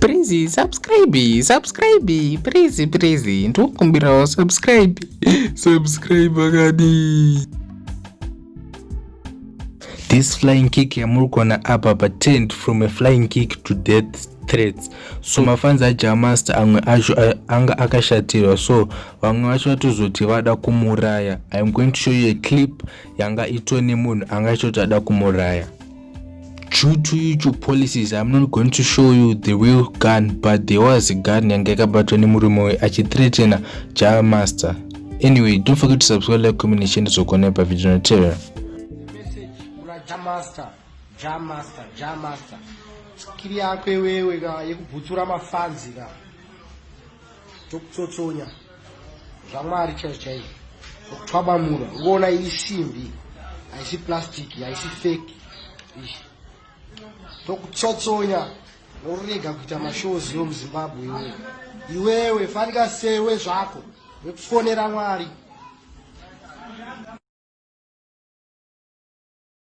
Please subscribe, subscribe, please please. Ndokumbirawo subscribe. Subscribe akadi. This flying kick yamuri kuona apa pa tent from a flying kick to death threats so mafanzi ajamasta amwe acho anga akashatirwa so vamwe vacho vatozoti vada kumuraya iam going to show you a clip yanga itone munhu anga achoti ada kumuraya due to youtube policies i'm not going to show you the real gun but there was a gun yange yakabatwa nemurume uyu achithreatena java master anyway don't forget to subscribe like comment and share ndizogona pa video notera skiri yako iwewe ka yekubhutsura mafanzi ka Tokutsotsonya zvamwari chaizvo chaizvo zvokutwabamura ugoona isimbi haisi plastic haisi fake izvi tokutsotsonya worega kuita mashows yo muzimbabwe iwewe iwewe fanika sewe zvako wekufonera mwari